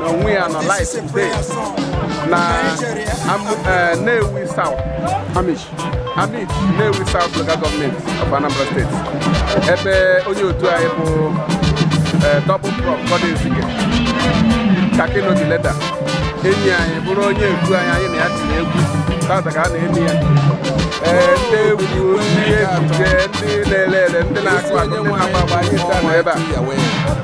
na onwe ya nọ live today na eh, Nnewi South Amichi Amichi Nnewi South Local Government of Anambra State ebe onye otu anyị bụ eh, Double Prof Goddy Ezike Kakino the leader enyi anyị bụrụ onye otu anyị anyị na ya tiri egwu tata ka a na-eme ya eh, ndị egwu ndị ejije ndị na-ele ele ndị na-akụ akụ ndị na-agba agba anyị taa na ebe a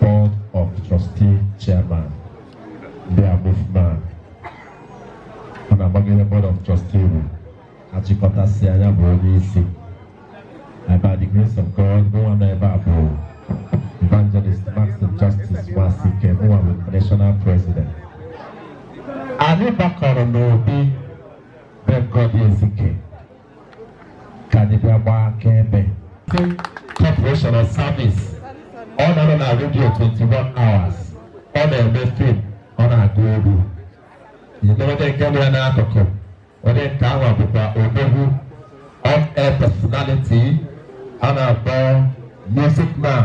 Board of Trustee Chairman their movement ọ na-agbagide Board of Trustee bụ achịkọtasịa nya bụ onye isi by the grace of God mụwa nọ ebe a bụ Evangelist Maxim Justice Nwasike mụwa bụ National President anyị gbakọrọ n'obi be Goddy Ezike ka anyị bịa gbaa akaebe corporation of service ọ nọrọ na redio 21 hours ọ na-eme fim ọ na-agụ egwu e nwere onye nke mere n'akụkụ onye nke ahụ bụkwa odogwu on air personality a na-akpọ music man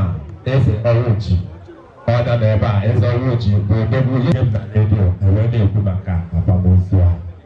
Eze Ọwụchi ọ nọ n'ebe a Eze Ọwụchi bụ odogwu ihe m na redio ewee na-ekwu maka akwamozu a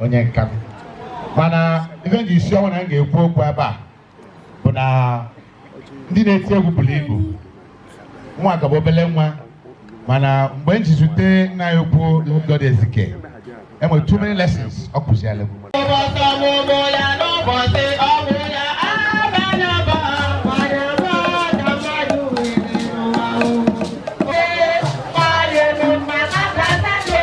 onye nka m mana ife m ji isi ọnwụ na m ga-ekwu okwu ebe a bụ na ndị na-eti egwu buru ibu nwa ka bụ obele nwa mana mgbe m ji zute nna ya ukwu Lord Ezike enwere too many lessons ọ kụziere m Ụbọchị ọmụmụ ya n'ụbọchị ọmụ ya abana ba mana ba na mmadụ nwere n'ụwa o. Ee, mmadụ eme mma na-abata gị.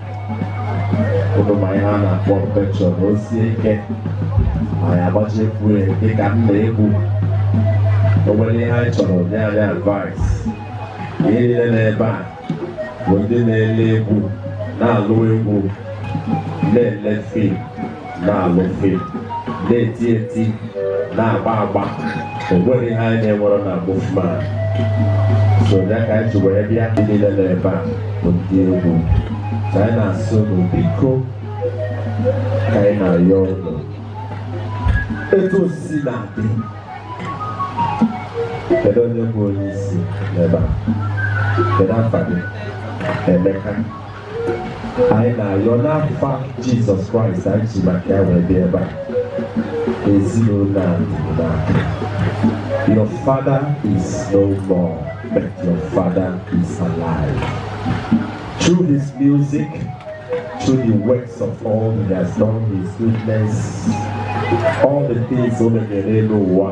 ụnụ ma ihe a na-akpọ patron o sie ike ma ya agbachiekwu ya dịka nna egwu o nwere ihe anyị chọrọ nye anyị advice ndị niile n'ebe a bụ ndị na-ele egwu na-alụ egwu na-ele fim na-alụ fim na-eti eti na-agba agba o nweghị ihe anyị na-enwerọ na movement so ya ka anyị ji wee bịa ndị niile nọ ebe a bụ ndị egwu ka anyị na-asị unu biko ka anyị na-ayọ unu etu o si na-adị kedu onye bụ onye isi n'ebe a kedu afa gị Emeka anyị na-ayọ n'afa Jesus Christ anyị ji maka ya wee bịa ebe a ezinụlọ a na your father is no more but your father is alive through his music through the works of all he has done his goodness all the things o mere n'elu ụwa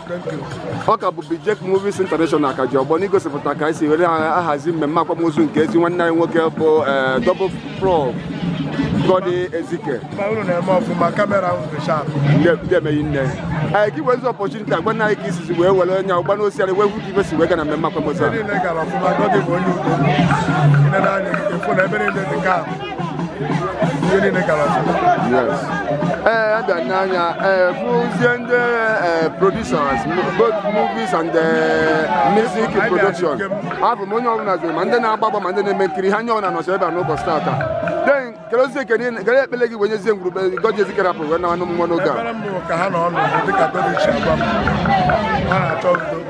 ọ ka bụ Bijec Movies International ka ji ọgbọ n'igosipụta ka esi were ahazi mmemme akwamozu nke ezi nwanne anyị nwoke bụ eh, Double Prof Goddy Ezike ndeme nne anyị eh, ka i wezi opportunity a gwanụ anyị ka i sizi wee were anya ọgba n'osiarị wee hụ ka ife si wee gaa na mmemme akwamozu a ee abịa n'anya ee fụzie ndị ee producers both movies and ee, music production afụ m onye ọbụla zuru ma ndị na-agba agba ma ndị na-eme nkiri onye ọbụla nọcha ebe a n'ụbọchị tata then kedụzie ekene kedụ ekpele gị wee nyezie ngwuru be Goddy Ezike rapụ wee nawa n'ụmụ nwa n'oge a Ekpere m bụ ka ha nọ n'udo dịka Goddy si agwa m ha na-achọ udo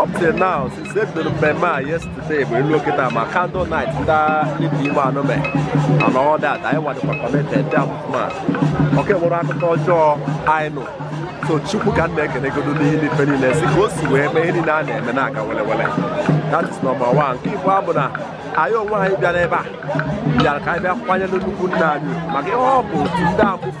up till now since ebidoro mmemme a yesterday bụ elu okịta ma candle night ndị entertainment and all that anyị wadịkwa connected dị amụma o nwerọ akụkọ ọjọọ anyị nụ so Chukwu ka m na-ekenegodu n'ihe n'ife niile si ka o si wee mee ihe niile a na-eme na-aga welewele that is number one nke ibụọ bụ na anyị onwe anyị bịara ebe a bịara ka anyị bịa kwanyere nnukwu nna anyị maka ihe ọ bụ otu ndị amụfụ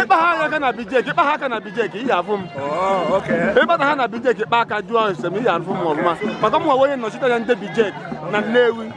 ị kpa ha aka na Bijec ị kpa ha aka na Bijec ị ya-afụ m ị kpata ha na Bijec ị kpa aka jụọ ese m ị ya-afụ m ọfụma maka mụnwa onye nnọchite anya ndị Bijec na Nnewi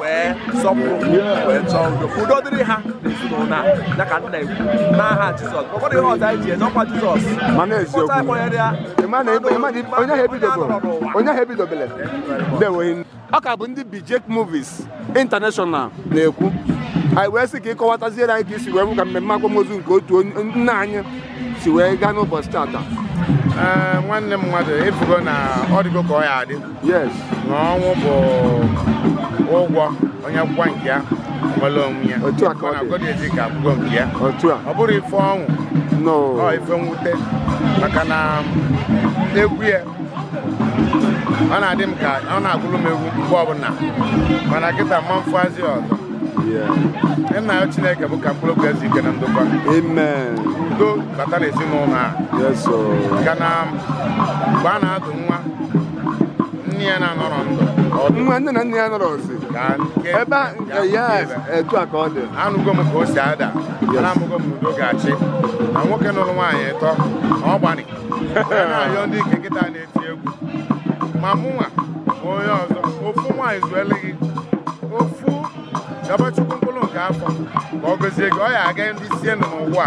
wee sọpụrụ wee chọọ udo ka udo dịrị ha n'ezinụlọ a ya ka m na-ekwu n'aha Jizọs ọ bụrụ ihe ọzọ anyị ji eje ọkwa Jizọs mana eziokwu onye ahụ ebidobere onye ahụ ebidobere ndewo ọ ka bụ ndị Bijec Movies International na-ekwu anyị wee sị ka ị kọwataziere anyị ka i si wee hụ ka mmemme akwamozu nke otu nna anyị si wee gaa n'ụbọchị tata nwanne m mmadụ ị fụgo na ọ dịgo ka ọ ya adị yes na ọnwụ bụ ụgwọ onye kwụọ nke ya o nwere onwe ya Otu a ka ọ dị. Goddy Ezike akwụgo nke ya otu a ọ bụrọ ife ọṅụ no ọ ife mwute maka na egwu ya ọ na-adị m ka ọ na-agụrụ m egwu mgbe ọbụla mana kịta ama m afụ yazi ọzọ Yeah. m na-ayọ Chineke bụ ka mkpụrụ obi ya zuo ike na ndokwa amen udo bata n'ezinụlọ a yes o maka na mgbe a na-azụ nwa nne ya na-anọrọ ndụ nwa nne na nna ya nọrọ ọzi ebe ya etu a ka ọ dị anụgo m ka o si ada ana amago m udo ga-achị na nwoke nụrụ nwaanyị ịtọ ọ gbanị na-ayọ ndị nke kịta na-eti egwu ma mụnwa ma onye ọzọ ofu nwaanyị zuelu gị ofu yọba Chukwu mkpụrụ nke afọ ka ọ gọzie gị ọ ya aga ndị isi n'ụwa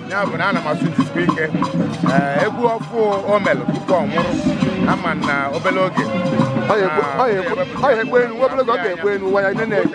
ya bụ na ana m asụ jisikwa ike ee, egwu ọfụ o melụ tupu ọ nwụrụ a ma na obele oge Ọ ya ekwe- ọ ya ekwe- ọ ya ekwe enu, nwa obere oge ọ ga-ekwe enu, nwa ya nene.